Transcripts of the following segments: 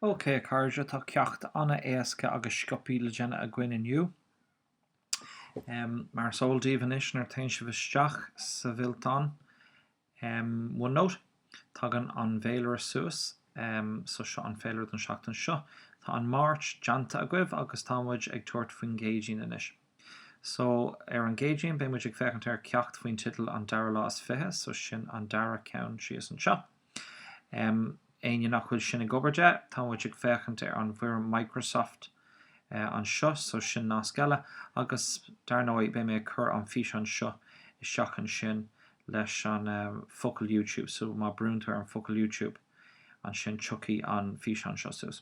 OK a chairde, tá ceacht an-éasca agus sciobtha le déanamh againn inniu. Mar is eol daoibh anois nuair téann sibh isteach sa bhfillteán OneNote, tagann an bhféilire suas. So seo an féilire don seachtain seo. Tá an Máirt déanta agaibh agus tá muid ag tabhairt faoin gCéadaoin anois. So, ar an gCéadaoin beidh muid ag féachaint ar cheacht faoin teideal An Dara Lá is Fiche, so sin an dara ceann síos anseo. Em, éinne nach bhfuil sin ag obair de, tá muid ag féachaint ar an bhfoirm Microsoft eh anseo, so sin nasc eile, agus dar ndóigh beidh mé ag cur an físeán seo isteach ansin leis an em focal YouTube, so má brúnn tú ar an focal YouTube ansin tiocfaidh an físeán seo suas.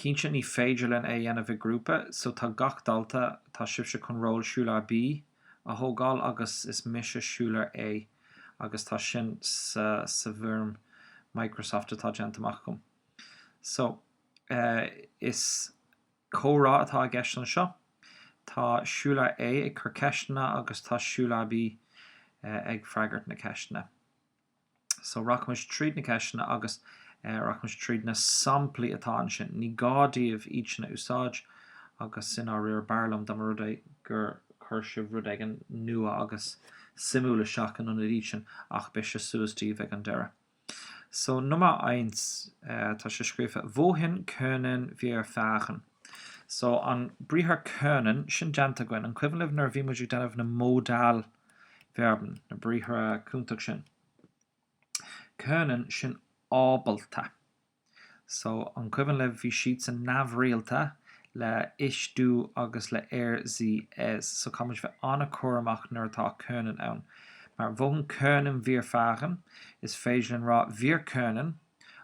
Cinnte ní féidir linn é a dhéanamh i grúpa so tá gach dalta, tá sibhse chun ról Schüler B a thógáil agus is mise Schüler A agus tá sin sa sa bhfoirm Microsoft atá déanta amach agam. So, eh, is comhrá atá i gceist anseo. Tá Schüler A ag cur ceisteanna agus tá Schüler B ag freagairt na ceisteanna. So, rachaimid tríd na ceisteanna agus rachaimid tríd na samplaí atá ansin. Ní gá daoibh iad sin a úsáid agus i ndáiríre, b'fhearr liom dá mba rud é gur chuir sibh rud éigin nua agus suimiúil isteach in ionad iad sin ach beidh sé suas daoibh ag an deireadh. So, Nummer eins, tá sé scríofa, wohin können wir fahren? So, an briathar können, sin déanta againn. An cuimhin libh nuair a bhí muid ag déanamh na Modal Verben, na briathra cúntach sin. Können sin ábalta. So an cuimhin libh bhí siadsan neamhrialta le ich, du agus le er, sie, es so caithfimid bheith an-cúramach nuair atá können ann. Mar wohin können wir fahren is féidir linn rá wir können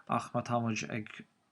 ach má táimid ag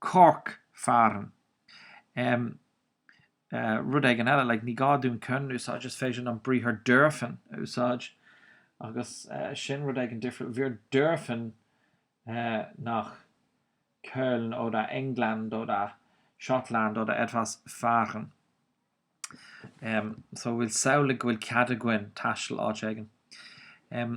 Cork fahren. em. eh. rud éigin eile, like, ní gá dúinn können a úsáid, is féidir an briathar dürfen a úsáid, agus eh. sin rud éigin difriúil, wir dürfen eh. nach Köln oder England oder Schottland oder etwas fahren. em. so bhfuil samhlaigh go bhfuil cead againn taisteal áit éigin. em.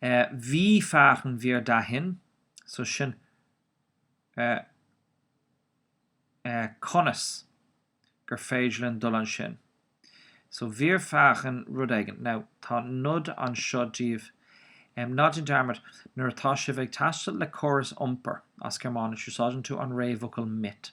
Wie fahren wir dahin so sin conas gur féidir linn dul ansin. So wir fahren rud éigin. Now tá nod anseo díbh. Ná déan dearmad, nuair atá sibh ag taisteal le córas iompair, as Gearmáinis, úsáideann tú an réamhfhocal mit.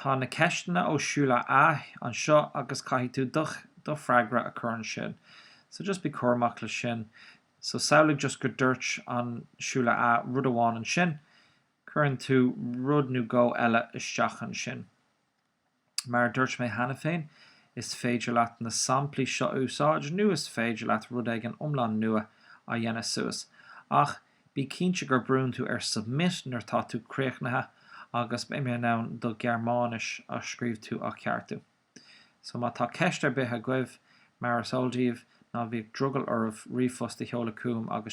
Tá na ceisteanna ó Julia anseo agus caithfidh tú do do freagra a chur ansin. So just bí cúramach leis sin. So samhlaigh just go dúirt an Julia rud amháin ansin, cuireann tú rud nó dhó eile isteach ansin. Mar a dúirt mé cheana féin, is féidir leat na samplaí seo a úsáid nó is féidir leat rud éigin iomlán nua a dhéanamh suas. Ach bí cinnte gur brúnn tú ar 'Submit' nuair tá tú críochnaithe agus beidh mé in ann do Ghearmáinis a scríobh tú a cheartú. So má tá ceist ar bith agaibh, mar is eol daoibh, ná bhíodh drogall oraibh ríomhphost a sheoladh chugam agus.